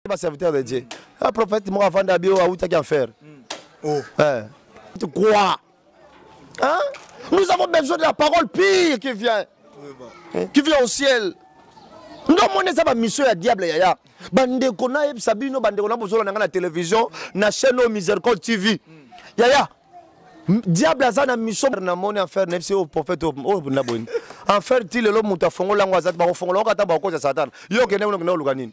ba serviteur de Dieu. Un prophète moko afanda abi oyo awutaki en fer. Hmm. Oh. Eh. Tu crois? Hein? Nous avons besoin de la parole pire qui vient. Eh, qui vient au ciel. Nous avons eza ba mission ya diable yaya. Bandeko na yebisa bino bandeko na bozola na nga na télévision na chaîne au Miséricorde TV. Hmm. Yaya. Diable aza na mission na moni en fer na biso au prophète au na boni. En fer ti lelo moto afongola yango azati bakofongola yango ata bakokosa satana. Yo okende kuna okende oluka nini?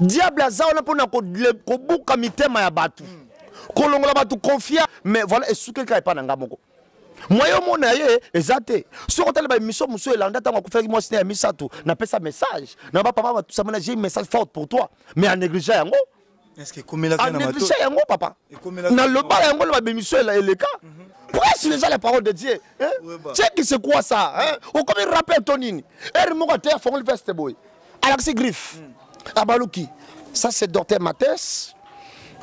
diable aza wana mpona kobuka mitema ya bato kolongola bato confia mais voilà esukeli kaka epai na ngai moko mwaye omona ye eza te soki otali baémission mosusu elanda ntango akufaki mwasi na ya misato napesa message na bapapa batusamana j'ai message forte pour toi mais anégligea yango anegligea yango papa na lobala yango na babemission eleka prêche mhm. déjà la parole de dieu ceki c'est quoi ça okomi rappel to nini ere moko ate afongoli veste boye alakisi griffe mm. abaluki ça c'est docteur mates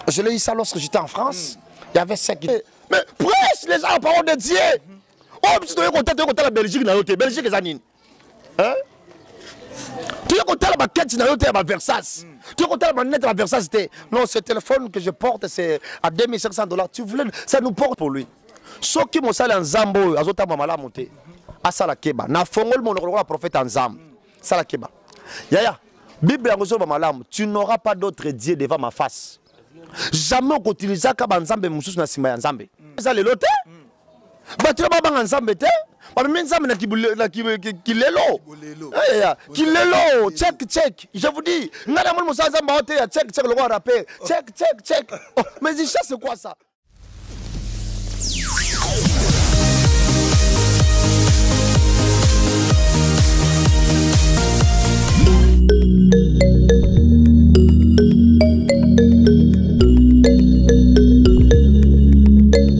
je l'ai eu ça lorsque j'étais en france mm. il y avait cinq eh, mais prêche déjà la parole de dieu mhm. oyo oh, biso toyei kotala toyei kotala belgique na yo te belgique eza nini hein? Tu es content la quête na yo te ba Versace. Mm. Tu es content la net ba Versace te. Non, ce téléphone que je porte c'est à 2500 dollars. Tu voulais ça nous porte pour lui. Soki mosala nzambo oyo azotamba malamu te. Asala keba. Na fongol monoko lokola prophète nzambo. Sala keba. Yaya, Bible yango zoba malamu. Tu n'auras pas d'autre dieu devant ma face. Jamais okotilisaka ba nzambe mosusu na sima ya nzambe. Eza lelo te. bato ya babanga nzambe te bamemi nzambe na kilelo kilelo check check je vous dis ngai namoni mosala nzambe ao te ya check check lokola rapper check check check oh, mais icha c'est quoi ça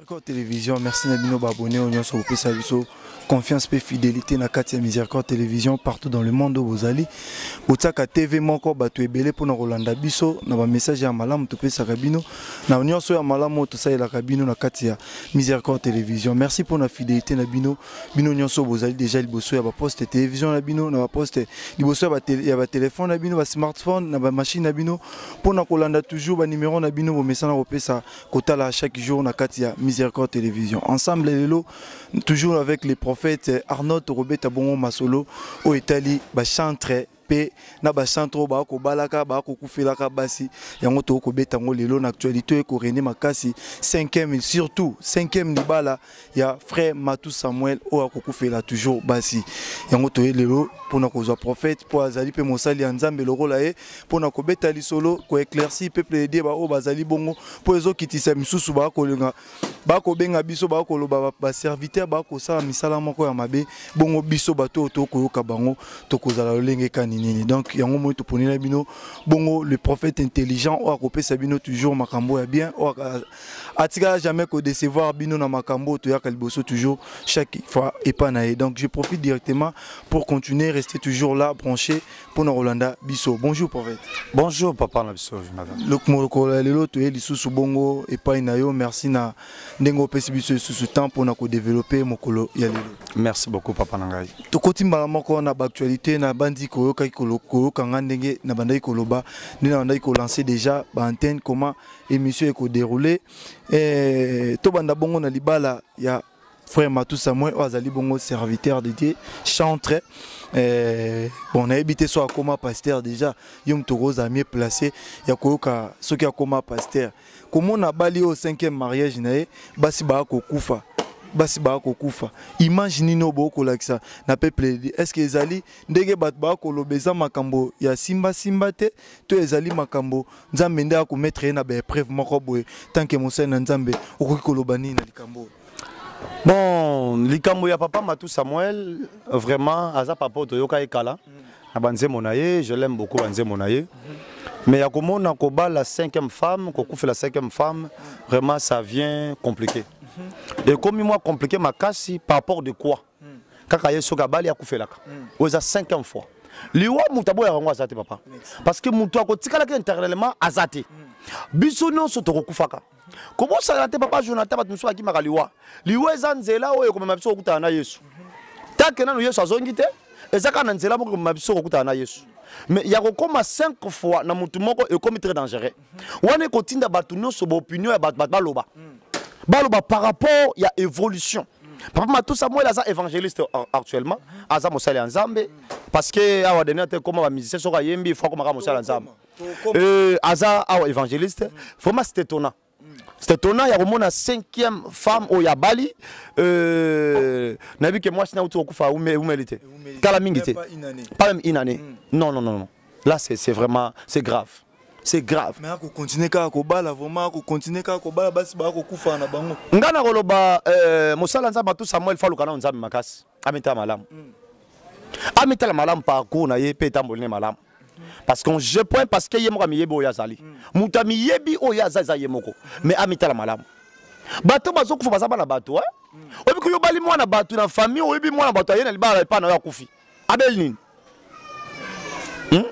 Miséricorde Télévision, merci na bino babone oyo nyonso bopesa biso confiance mpe fidélité na kati ya Miséricorde Télévision partout dans le monde oyo bozali botiaka TV moko bato ebele mpona kolanda biso na bamessage ya malamu topesaka bino na nyonso ya malamu oyo tosalelaka bino na kati ya Miséricorde Télévision. Merci mpona fidélité na bino bino nyonso bozali déjà liboso ya baposte télévision na bino na baposte liboso ya batele- ya batelefone na bino basmartphone na bamashine na bino mpona kolanda toujours banimero na bino bomesana kopesa kotala chaque jour na kati ya Miséricorde Télévision. Ensemble lelo toujours avec les prophètes euh, Arnaud Robeta Bongo Masolo au Italie ba chantre pe na ba chantre oyo ba kobalaka ba kokufelaka basi yango to kobeta ngo lelo na actualité ko René Makasi 5e surtout 5e libala ya frère Matou Samuel oyo akokufela toujours basi yango toye lelo mpona kozwa prophète mpo azali mpe mosali ya nzambe lokola ye mpona kobeta lisolo koeclairci peuple edie baoyo bazali bongo mpo ezokitisa misusu bakolinga bakobenga biso bakoloba baserviteur bakosala misala moko ya mabe bongo biso bato oyo tokoyoka bango tokozala lolenge kani nini donc yango moi toponela bino bongo le prophète intelligent oyo akopesa bino toujours makambo ya bien oyo atikala jamais ko décevoir bino na makambo to yaka liboso toujours chaque fois epa na ye donc je profite directement pour continuer rester toujours là branché pour na Rolanda biso bonjour prophète bonjour papa na biso madame lokumoko lelo to ye lisusu bongo epa na yo merci na ndenge opesi biso lisusu temps pour na ko développer mokolo ya lelo merci beaucoup papa na ngai tokoti mbala moko na actualité na bandi koyokaki koyoka nga ndenge na bandaki koloba ndenge na bandaki ko lancer déjà ba antenne comment émission eko dérouler eh, tobanda bongo na libala ya frère Matou Samuel oyo azali bongo serviteur de Dieu chantre eh, bon nayebi te so akoma pasteur déjà yo moto okozala mieux placé ya koyoka soki akoma pasteur komona abali oyo cinquième mariage na ye basi baya kokufa basi baya kokufa image nini oyo bokolakisa na peuple est ce que ezali ndenge bato baya koloba eza makambo ya simbasimba te to ezali makambo nzambe nde akometre ye na baepreuve moko boye tanke mosali na nzambe okoki koloba nini na likambo oyo bon likambo ya papa matou samuel vraiment aza papa oyo toyoka ye kala na banzembo na ye je l'aime beaucoup banzembo na ye mais ya komona kobala cinquième femme kokufela cinquième femme vraiment ça vient compliqué ekomi mwa compliqué makasi par rapport de quoi hmm. kaka ye soki abali akufelaka hmm. oyo eza cinquième fois liwa moto aboyaka yango aza te papa parce que moto akotikalaki internellement aza te hmm. biso nyonso tokokufaka kobosana te papa jonathan bato mosusu bakimaka liwa liwa eza nzela oyo ekomema biso kokutana na yesu tanke nano yesu azongi te eza kaka na nzela moko ekomema biso kokutana na yesu mais ya kokoma 5 fois na motu moko ekomi très dangereux wana ekotinda bato nyonso baopinion ya bato bato baloba baloba par rapport ya évolution papa matusa mwele aza évangéliste actuellement aza mosali ya nzambe parce que awa deni ate ekoma bamusicien soki ayembi ifo akomaka mosali ya nzambe euh, aza awa évangéliste vraiment c'est étonnant c'est étonnant ya komona cinquième femme oyo abali euh, nayebi ke mwasi nauti kokufa eumeli te kala mingi te pas même une année mm. non non non là c'est vraiment c'est grave c'est grave mais ako continuer kaka kobala vraiment ako continuer kaka kobala basi ba ako kufa na bango nga na koloba euh, mosala nzambe tout Samuel faluka na nzambe makasi amita malamu mm. amita la malamu parcours na ye pe tambolne malamu parce qu'on je point parce que ye moko amiyebi oyo azali mm. moto amiyebi oyo aza eza ye moko mm. mais amita la malamu bato bazokufa baza bana bato eh? mm. oyebi koyobali mwana bato na famille oyebi mwana bato aye na libala epai na yo akufi abel nini hmm?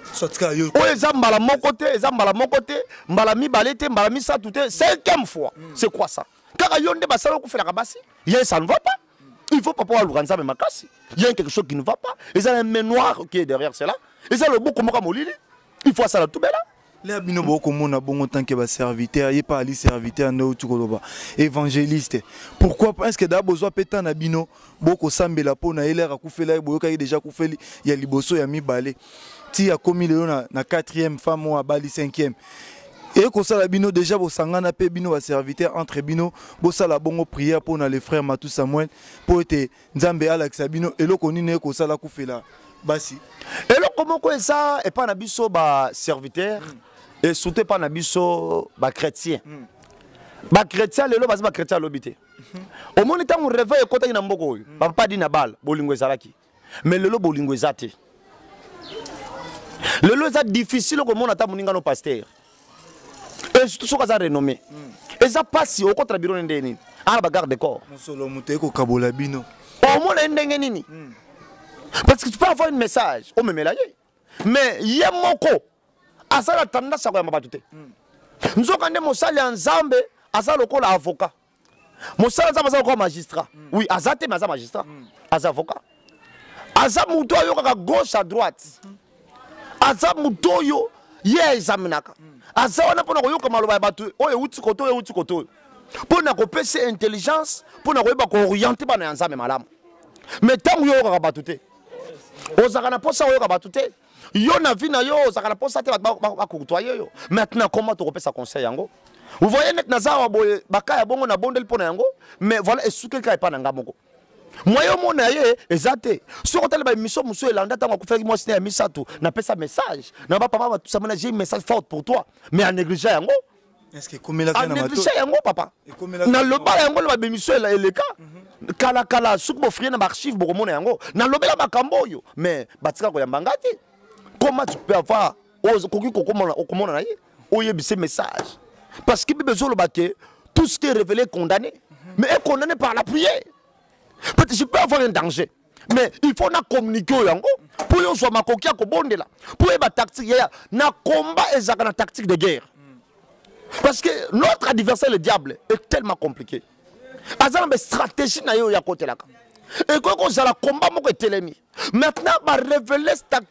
oyo eza mbala moko te eza mbala moko te mbala mibale te mbala misato te cinquième fois hmm. c'est quoi ça kaka yo nde basala okufelaka basi ye ça ne va pas il faut papa aluka nzambe makasi il y a quelque chose qui ne va pas eza na main noire qui est derrière cela eza loboko moko molili il faut asala tubela lea bino bokomona bongo tant que baserviteur ye pa ali serviteur nde outi koloba évangéliste pourquoi pas estce daa bozwa mpe temps na bino bokosambela mpo na ye lere akufela ye boyokaki déjà akufeli ya liboso ya mibale ti akomi lelo na, na quatrième femme oyo abali cinquième eye kosala bino déjà bosangana mpe bino baserviteur entre bino bosala bongo prière mpo na le frère matou samuel mpo ete nzambe alakisa bino eloko nini ekosala kufela basi eloko moko eza epai na biso baserviteur mm. et surtout epai na biso bachrétien mm. bachrétien lelo baza bachrétien alobi te mm -hmm. omoni ntango reveil ekotaki na mboka oyo mm. bapapa di na bala bolingo ezalaki mais lelo bolingo eza te lelo eza difficile okomona ata moninga no pastere et surtout soki aza renommé eza mpasi okotala biro ne ndenge nini ana bagarde de corps mosolo moto ye kokabola bino omona ye ndenge nini hmm. parce que tu peux avoir une message omemela ye mais ye moko aza na tendance ya koyamba bato te hmm. nzoka nde mosali ya nzambe aza lokola avocat mosala nzambe aza lokola magistrat mm. oui aza te mais aza magistrat mm. aza avocat aza moto ayokaka gauche à droite mm. aza moto oyo ye aexaminaka mm. aza wana mpo na koyoka maloba ya bato oyo euti koto oyo euti koto oyo mpo na kopesa intelligence mpo na koyeba kooriente bana ya nzambe malamu mais ntango yo oyokaka bato te ozalaka na mposa koyoka bato te yo na vie na yo ozalaka na mposa te bato bakokutoye yo maintenant comment tokopesa conseil yango vous voyez neti naza awa boye baka ya bongo nabondeli mpo na yango mais voilà esukeli kaka epai na ngai moko mwa yo mona ye eza te soki otali baemission mosusu elanda ntango akufaki mwasi na ya misato napesa message na bapapa batusama na j'ai message forte pour toi mais anéglige yango anegligea yango papa nalobala yango na babemission eleka mhm. kala kala soki bofrie na baarchive bokomona yango nalobela makambo oyo mais batika koyamba ngai te comment tu peux avoir okoki okomona na ye oyebise message parce que bible ezoloba ke tout ce qui est révélé condamné mhm. mais est condamné par la prière peut-être je peux avoir un danger mais il faut na communiquer oyo yango mpo yo ozwa makoki ya kobondela mpo oyeba tactique yaya na combat ezalaka na tactique de guerre parce que notre adversaire le diable est tellement compliqué aza na bastratégie na ye oyo akotelaka ekoki kozala combat moko etelemi maintenant barevele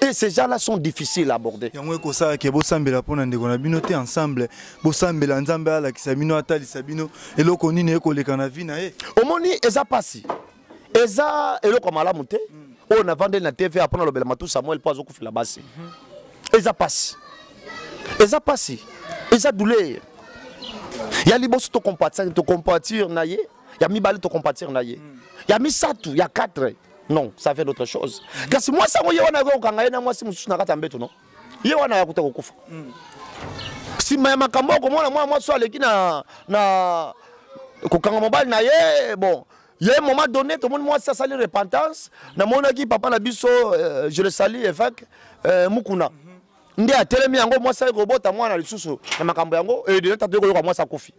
et ces gens-là sont difficiles à aborder. yango ekosala ke bosambela mpo na ndeko na bino te ensemble bosambela nzambe alakisa bino atalisa bino eloko nini ekoleka na vi na ye omoni eza mpasi eza eloko ya malamu te hmm. oyo navandeli na tv apona alobela matu samuel mpo azokufela basi hmm. eza mpasi eza mpasi eza douleur ya liboso tokompatir na ye ya mibale tocompatir na ye ya misato ya 4 non ça fait d'autre chose kasi mwasi yango ye wana akoki kokanga ye na mwasi mosusu na kati ya mbeto no ye wana ayakuta kokufa nsima ya makambo oyo komona mwana mwasi oyo aleki na, na kokanga mobali na ye bon ye moment donné tomoni mwasi asali repentance namonaki papa na biso euh, je le sali évêque euh, mukuna mm -hmm. nde atelemi yango mwasi aye kobota mwana lisusu na makambo yango edena tata yo koyoka mwasi akufi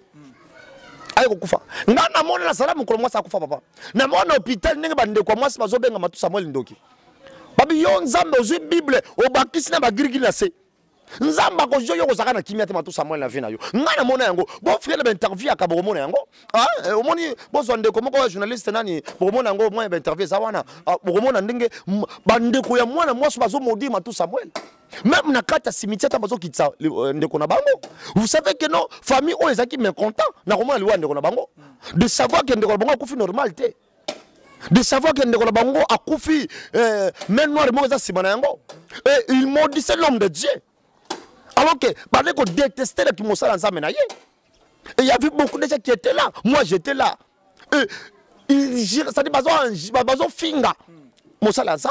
aye kokufa nga namona nasala mokolo mwasi akufa papa namona hôpital ndenge bandeko ya mwasi bazobenga matu samuel ndoki babi yo nzambe ozwi bible obakisi na bagirigiri na se nzambe akozwi yo kozalaka na kimia te matu samuel na vie na yo nga namona yango bofre na bainterview ya kabo komona yango Ah, eh, omoni bozwa ndeko moko ya journaliste nani bokomona yango mwa ya bainterview eza wana ah, bokomona ndenge bandeko ya mwana mwasi bazomodire matu samuel meme na kati ya cimetiere ata bazokitisa euh, ndeko na bango vous savez que non famille oyo ezalaki mécontent na komona liwa ya ndeko na bango de savoir ke ndeko na bango akufi normal te de savoir que ndeko na bango akufi euh, main noire moko eza nsima na yango et il maudissait l'homme de dieu alors que bandeko déteste na kimosala nzambe na ye Et il y avait beaucoup de gens qui étaient là. Moi, j'étais là. Et ils giraient, c'est-à-dire, bazo finga. Mon salaire, ça,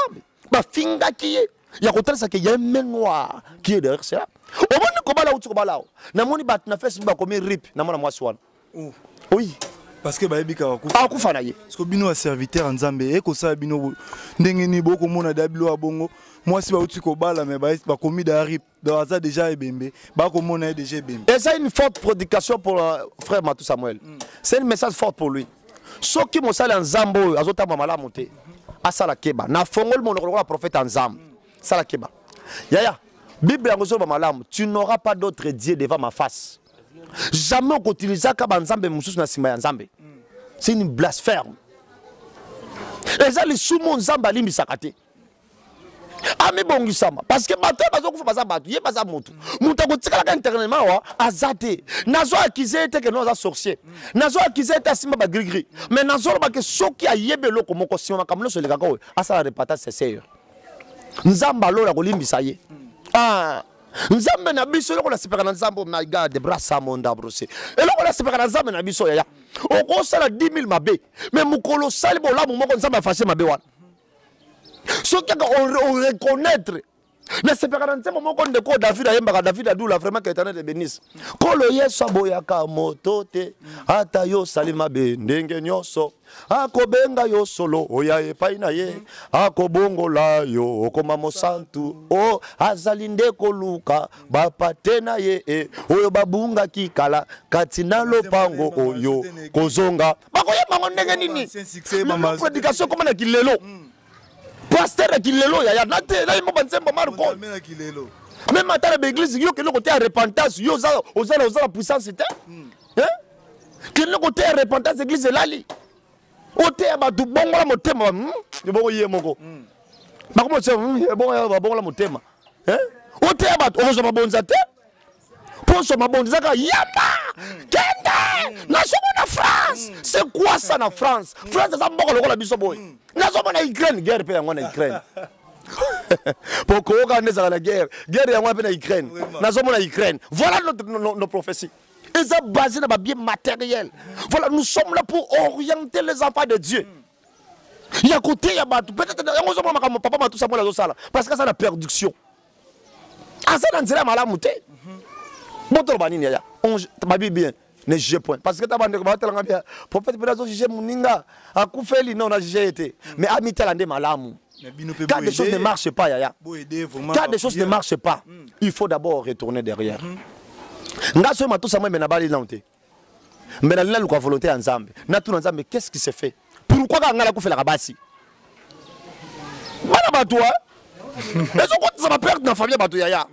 bah, finga qui est. ya kotalisa ke ya un main noir qui est derrière cela omoni kobala uti kobala o namoni bato na facebook bakomi rip na mwana mwasi wana oh. oui parce que bayebi kaka kufa akufa na ye parce que bino ya serviteur nzambe ekosala bino ndenge nini bokomona dabilo ya bongo mwasi bauti kobala me bakomi da rip donc aza déjà ebembe bakomona ye déjà ebembe eza une forte prédication pour euh, frère matou samuel mm. c'est une message forte pour lui soki mosali ya nzambe oyo azotamba malamu te asala keba na fongoli monoko lokola prophète ya nzambe sala keba yaya bible yango ezoloba malamu tu n'auras pas d'autre dieu devant ma face jamais okoutilisaka banzambe mosusu na nsima ya nzambe c'est une blasphème eza lisumu nzambe alimbisaka te amibongisama parce que bato oyo bazokufa baza bato ye baza motu moto akotikalaka internellement awa aza te nazo akize ye te ke no aza sorcier nazo akize ye te asimba bagrigri mais nazoloba ke soki ayebi eloko moko nsima makambo nyonso elekaka oyo asala repatage seseur nzambe alola kolimbisa ye ah. nzambe na biso eloko nasepeka na nzambe my god brasamondabrose eloko nasepeka na nzambe na biso yaya okosala 10 000 mabe me mokolo osali bolamu moko nzambe afashe mabe wana soki kaka oreconnaitre nasepaka na nzembo moko ndeko oyo david ayembaka david adula vraiment que éternel ebenise nkolo yesu aboyaka moto te ata yo osali mabe ndenge nyonso akobenga yo solo oya epai na ye akobongola yo okoma mosantu o oh, azali nde koluka bapate na ye e oyo babungaki kala kati na lopango oyo kozonga bakoyeba yango ndenge nini prédication ekoma na kilelo hmm. paster na kilelo yaya nate nayemba banzembo marko meme ata na baeglise yo kende koteya repentance yo oza na puissance te hmm. kende koteya repentance eglise elali oteya bato bongola motema hmm? ebongo ye moko hmm. bakomosebongola motema oteya bato okozwa mabonza te mposo mabondisaka yamba kende nazomona france se quoi ça na france france aza mboka lokola biso boye nazomona ukraine guerre mpe yango na ukraine mpo koyoka nde ezala na guerre guerre yango mpe na ukraine nazomona ukraine voilà nos no, no, no prophétie eza basé na babie matériel voilà nous sommes là pour orienter les enfants de dieu mm. ya koteya bato peut-être yango ozomona makambo papa matusa mwana azosala parce que aza na production aza na nzela ya malamu te botoloba nini yaya babi bien ne juge point parce que ta bandeko batalanga bien prophète mpe nazo juge moninga akufeli non na juge ye te mais amitala nde malamu quand des choses ne marchent pas yaya quand des choses ne marchent pas hmm. il faut d'abord retourner derrière hmm. nga soki matosa moi me nabali nano te mais nalela luka volonté ya nzambe natuna nzambe qu'est ce qui se fait pourquoi kaka ngai nakufelaka basi bana bato a ezokotisa baperte na famille ya bato yaya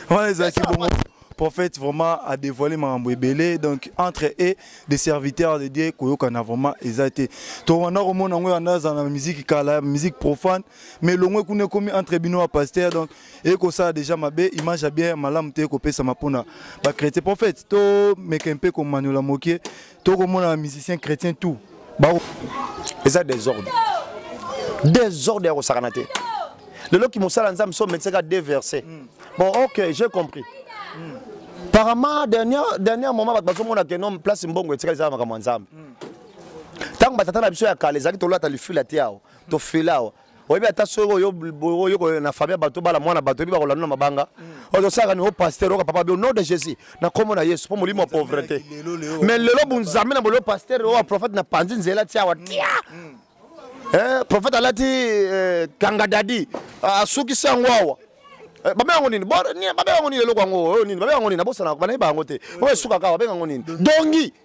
wana ezalaki bongo prophète vraiment a dévoilé mambo ebele donc entre et des serviteurs de Dieu koyokana vraiment eza te to wana komona ngo wana za na musique kala musique profane mais longwe kuna komi entre bino wa pasteur donc ekosala deja mabe image ya bien ya malamu te ekopesama mpona bachrétien prophète tomeka mpe komaniola moke tokomona bamusicien chrétien tout eza desordre desordre ya kosakana te lelo kimosala nzambe so omekisaka de verse hmm. bon ok j'ai compris hmm. apparemment dernière, dernière moment bato bazomona ke nom place mbongo etikali ezala makambo ya nzambe ntango hmm. batata na biso ya kala ezalaki tolata lifila te awa tofila awa oyebi ata soki oyokoyo na famille ya bato bala mwana bato oyebi bakolanda na mabanga mm. ozosalaka ni o paster oka papa bio nom de jésus na nkombo na yesu mpo molimo ya pauvrete mais lelo bonzambe na bolelo paster oyo prophète na panzi nzela ti awa tia mm. eh, prophète alati eh, kangadadi asukisi yango awa eh, babe yango nini babe yango nini eloko yango oyo oh, nini babe yango nini nabosanaka banayebi bango te oyo esukaka babenga yango nini dongi mm.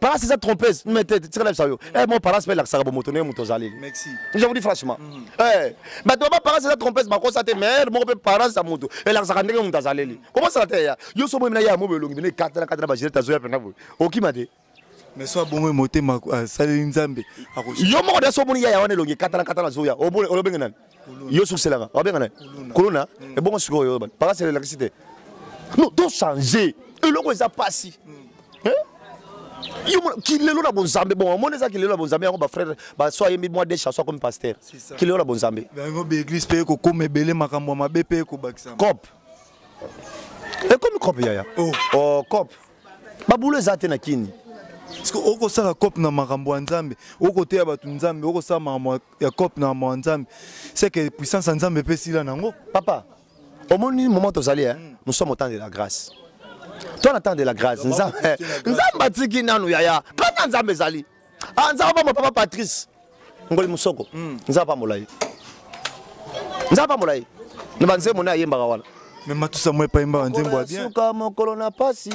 Palace eza trompeuse mais te tika na yo eh mon palace pe lakisaka bomoto ndenge moto ozali merci je vous dis franchement mhm. eh bato ba palace eza trompeuse bakosa te mais moko pe palace ya moto elakisaka ndenge moto azaleli kobosana te ya yo so boyemina ya mobo elongi bino ekatela katela bagilete azoya mpenza boye okima te mais so abongo ye motema asaleli nzambe yo moko da so omoni yaya wana elongi ekatala katala azoya olobenge nani yo sukiselaka wabenga na kuluna mm. ebongo sikoyo oyo bakasi elakisi te no tochange eloko eza mpasi mm. kilelo na bonzambe bon omoni eza kilelo na bonzambe yango bafrere baso ayembi mwa de chanson akomi paster kilelo na bonzambe yango baeglise mpe ekokoma ebele makambo ya mabe mpe ekobakisama cop ekomi cop yaya oh. oh, cop babulo eza te na kini okosala cop na makambo ya nzambe okoteya bato nzambe okosala makambo ya cop na mawa nzambe seke puissance ya nzambe mpe esila nango papa omoni moment tozali eh? mm. nous sommes au temps de la grâce toi na temps de la grâce nzambe eh, atiki nanu yaya kaka nzambe ezali ah, nzambe apambola papa patrice ngoli mosoko mm. nzambe apambola ye nzambe apambola ye na banzembo nde ayembaka wana me matusa mwepa yembaka nzembo ya bien suka mokolo na pasi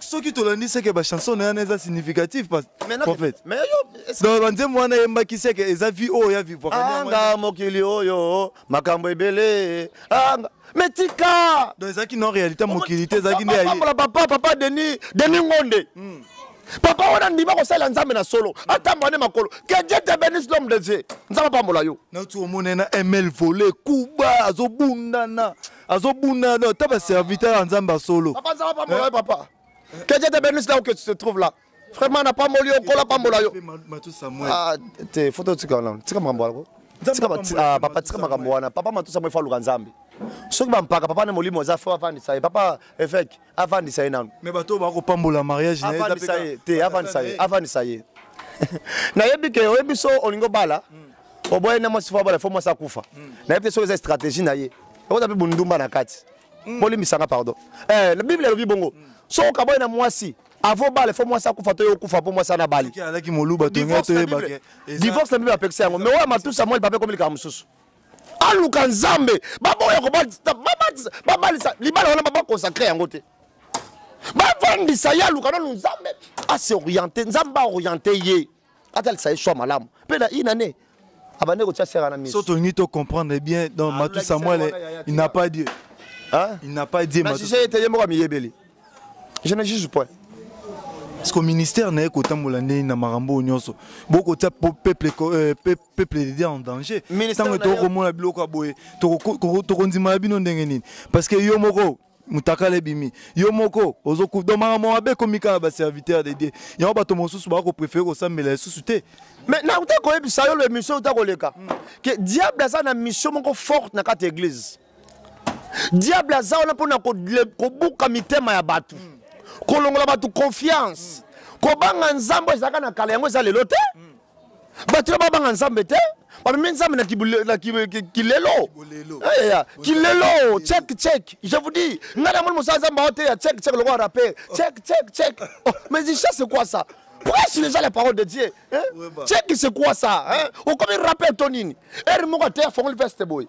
soki tolandi seke bachanson na yana eza significative banzembo wana eyembaki seke eza vie oyo ya vivoanga mokili oyo makambo ebele anga me tika donc ezalaki non réalité mokili te ezalaki nde yayeambola papa papa denis denis ngonde hmm. papa wana ndima kosalela nzambe na solo atambola nde makolo que dieu te bénisse l'homme de dieu nzambe apambola yo nauti omona na ml vole kuba azobundana azobunda no ata baserviteur ya nzambe ya solo papa nzambe apambola yo papa keje te benus là où que tu te trouves là vraiment napamboli yo nkola apambola yo ah, te foto tika wana tika makambo wana ah, papa tika makambo wana papa matusa mo efa luka nzambe soki bampaka papa nde molimo aza fo afandisa ye papa efeke avandisa ye nanu mais bato bako pambola mariage na avandisa ye te avandisa ye avandisa ye nayebi ke oyebi so olingi obala hmm. oboye na mwasi fo abala fo mwasi akufa hmm. nayebi te soki eza stratégie na ye okoza mpe bondumba na kati hmm. bolimbisanga pardon eh, bible elobi bongo so okaboye na mwasi avo bale fo mwasi akufa to ye okufa mpo mwasi anabali divorce na bible apekisa yango me oyo matusa mwa lipape ekomi likambo mosusu aluka nzambe baboya kobatisa babatisa babalisa libala wana babakonsakre yango te bavandisa ye aluka nanu nzambe asoriente nzambe aoriente ye atalisa ye swa malamu mpe na inane abande kotya sera na miso so tolingi to comprendre bien donc ah, matu samuel il n'a pas dieu hein? il n'a pas dieu matu samuel ete ye moko amiyebeli je ne juge point parce que ministère na ye kotambola ndenge na makambo oyo nyonso bokotia peuple euh, peuple peuple de Dieu en danger ntango ete okomona biloko ya boye tokondima na bino ndenge nini parce que yo moko mutakala ebimi yo moko ozokudo makambo mabe ekomi kaka baserviteur de dieu yango bato mosusu bako préféré kosambela lisusu te mais nauta koyebisa yo lemission uta koleka ke diable aza na mission moko forte na kati ya église diable aza wana mpona kobuka mitema ya bato kolongola bato confiance kobanga nzambe ezalaka na kala yango eza lelo te mm. bato ya babanga nzambe te bamemi nzambe na kilelo kilelo check check je vous dis ngai namoni mosala nzambe ao te ya check check lokola rapper check check check oh, mais icha c'est quoi ça prêche déjà la parole de dieu hein? check c'est quoi ça hein? okomi rapper to nini ere moko ateya fongoli veste boye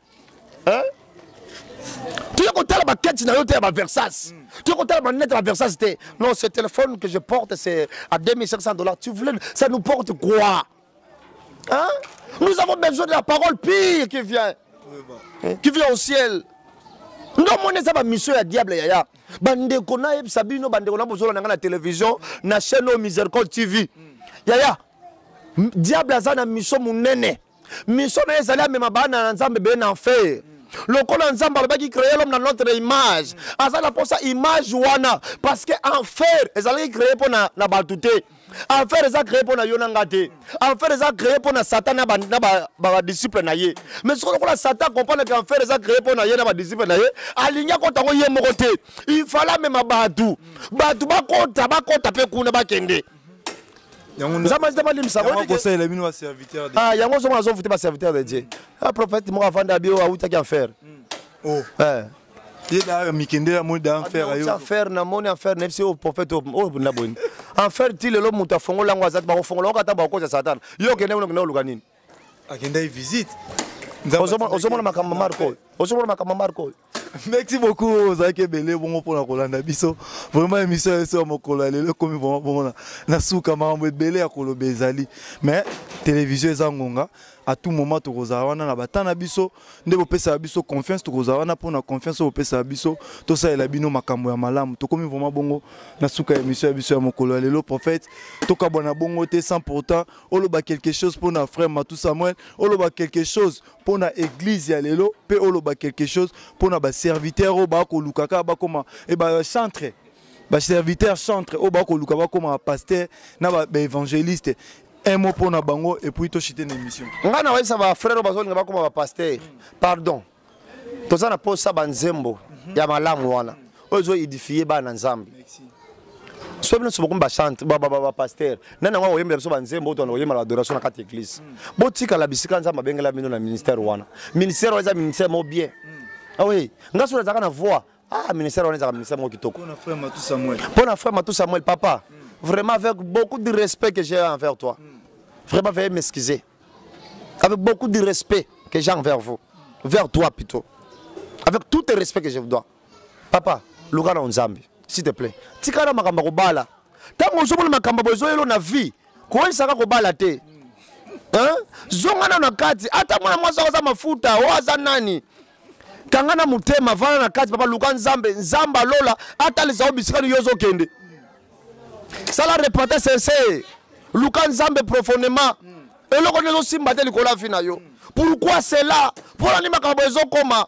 hein? Tu es content la quête na yo te ba Versace. Mm. Tu es content la net ba Versace te. Non, ce téléphone que je porte c'est à 2500 dollars. Tu voulais ça nous porte quoi Hein Nous avons besoin de la parole pire qui vient. Hein? Qui vient au ciel. ndo omoni eza bamisio ya diable yaya bandeko nayebisa bino bandeko na bozolanda ngai na televizio na chaîne oyo misericole tv yaya diable aza na miso monene mm. mission na ye ezali amema bana na nzambe bee na enfer lokola nzambe alobaki créer l'homme na notre image aza na mposa image wana parce que enfer ezalaki créer mpo na, na bato te enfer eza créer mpo na yo na nga te enfer eza créer mpo na satan na badisciple na ye mais soko lokola satan akomprendre ke enfer eza créer mpo na ye na badisciple na ye alingi akota yango ye moko te ifale amema bato bato bakota bakota mpe kuna bakende nzambe azita balimbisa ah, yango ozomona azovute baserviteur de dieu a ah, prophète moko avanda abi oyo awutaki enfer hmm. oh. eh. mikende ya moni da enfer ayo enfer na moni enfer na yebisi oyo prophète oyo oh, na boyini enfer ti lelo moto afongola yango azati bakofongola yango kata bakokosa satana yo okende kuna okende oluka nini akendaki visite ozomona makambo marko oyo ozomona makambo marko oyo merci beaucoup ozalaki ebele bongo mpona kolanda biso vraiment émission ya biso ya mokolo ya lelo ekomi vraiment bongo na, na suka makambo ebele ya koloba ezali mais télévision eza ngonga à tout moment tokozala wana na bata na biso nde bopesaka biso confiance tokozala wana mpona confiance oyo bopesaka biso tosalela bino makambo ya malamu tokomi vraiment bongo na suka ya émission ya biso ya mokolo ya lelo prophète tokabwana bongo te sans pourtant oloba quelque chose mpo na frère matou samuel oloba quelque chose mpo na église ya lelo mpe oloba quelque chose mpo na baserviteur oyo bakoluka kaka bakoma e bacentre baserviteur centre oyo bakoluka bakoma bapaster na baévangéliste un mot mpo na bango epuis toshite na émission ngai na bayisa bafrère oyo bazolinga bakoma bapaster pardon toza na posa banzembo ya malamu wana oyo ezo edifie bana nzambe soki bino nyonso bokomi bachante bapaster nani yango akoyembela biso banzembo oyo toyembela badoration na kati ya eglise botikala bisika nzambe abengela bino na ministère wana ministère wana eza ministère moko bien awe ah nga soki nazalaka na voix ah ministère wana ezalaka ministère moko kitoko mpo na frère matou samuel papa mm. vraiment avec beaucoup de respect que j'ai envers toi mm. vraiment veuillez m'excuser avec beaucoup de respect que j'ai envers vous vers toi plutôt avec tout le respect que je vous dois papa luka na nzambe s'il te plaît tikala makambo ya kobala ntango ozomona makambo bozoyelo na vie koyesaka kobala te mm. zonga nano na kati ata mwana mwasi akoza mafuta oyo aza nani kanga na motema vana na kati papa luka nzambe nzambe alola atalisa yo bisika nini yo ozokende sala repente sincere luka nzambe profondément eloko nini ezosimba te likolo ya vi na yo pourkui cela mpo na nini makambo ezokoma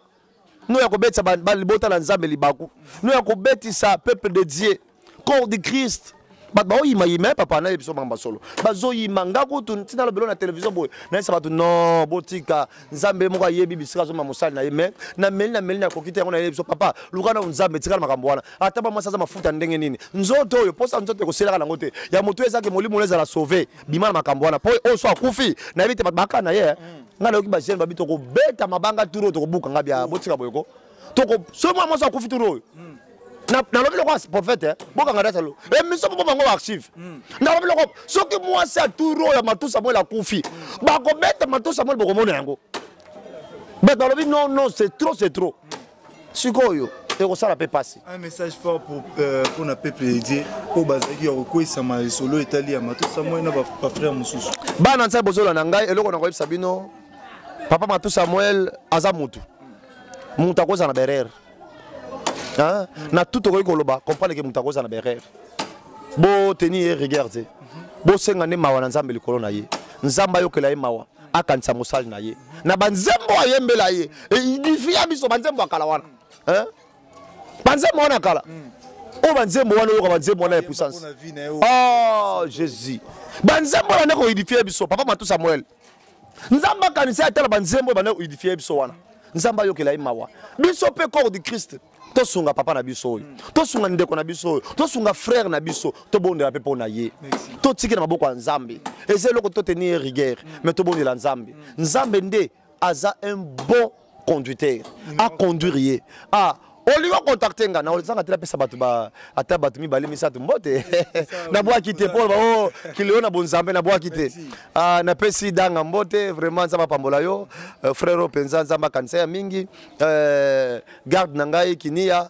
no ya kobetisa libota na nzambe libaku no ya kobetisa peuple de dieu corps de christ bato baoyimayima ye papa nayebi biso mamba solo bazoyima nga kutu ntina lobelo na televizio boye nayesa bato non botika nzambe moko ayebi bisika azomba mosali na ye mai nameli nameli nakoki te yango nayebi biso papa luka nao nzambe etikala makambo wana ata bamwasi aza mafuta ndenge nini nzoto oyo mposa nzoto ekoselaka nango te ya motu ezaki molimo na ezala sauve bima na makambo wana mpo oyo so akufi nayebi te bato baka na ye eh. mm. ngai nayoki bajeune babi tokobeta mabanga turo tokobuka ngai bya botika boyeko toko soki mwana mwasi akufi turu oyo hmm. nalobi loko prophète eh, bokanga data lo emission eh, mpo bango baarchive hmm. nalobi loko soki mwasi aturu oyo matu samuel akufi hmm. bakobeta matu samuel bokomona yango bet balobi non non c'est trop c'est trop sikoyo ekosala mpe mpasi un message fort pour euh, mpona peuple de dieu oyo bazalaki ya kokweisama lisolo etali ya matusa moi na bafrère mosusu bana nsai bozola na ngai eloko na koyebisa bino papa matu samuel aza mutu moto akozala na berere na tout okoki koloba comprendre ke moto akozala na berere boteni ye rigueur te bosenga nde mawa na nzambe likolo na ye nzambe ayokela ye mawa akanisa mosali na ye na banzembo ayembela ye edifi ya biso banzembo ya kala wana banzembo wana kala mm. oyo banzembo wana oyoka banzembo wana ya puissance oh jésus banzembo wana nde koedifie biso papa matusa moele nzambe akanisa ye atala banzembo ebanda koedifie ye biso wana nzambe ayokela ye mawa biso mpe corps du christ tosunga papa na biso oyo tosunga ndeko na biso oyo tosunga frère na biso tobondela mpe mpo na ye totikela maboko ya nzambe eza eloko toteni ye rigueur mais tobondela nzambe nzambe nde aza un bon conducteur a conduire ye ah olingo contacte nga na olizanga te napesa bato ata bato mibale misato mbote nabwaki te mpo bao kileo na bonzambe nabwaki te ah, napesi danga mbote vraiment nzambe apambola yo euh, frero mpenza nzambe akanisa ya mingi euh, garde na ngai kinia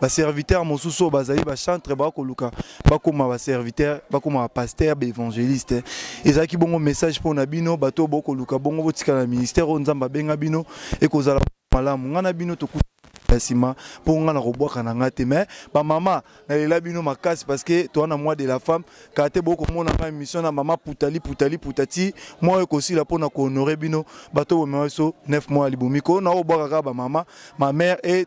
ba serviteurs mosusu oyo bazali ba chantre bakoluka bakoma ba serviteurs bakoma ba pasteur ba évangéliste ezalaki bongo message mpo na bino bato oyo bokoluka bongo botika na ministère oyo nzambe abenga bino ekozala malamu ngai na bino tokuta ya nsima mpo ngai nakobwaka na ngai te mais bamama nalela bino makasi parce que toa na mois de la femme kaka te bokomona ngai émission na mama putali putali putati mwa oyo ekosila mpo na kohonore bino bato bomema biso 9 mois ya libomi ko na obwaka kaka bamama ma mère et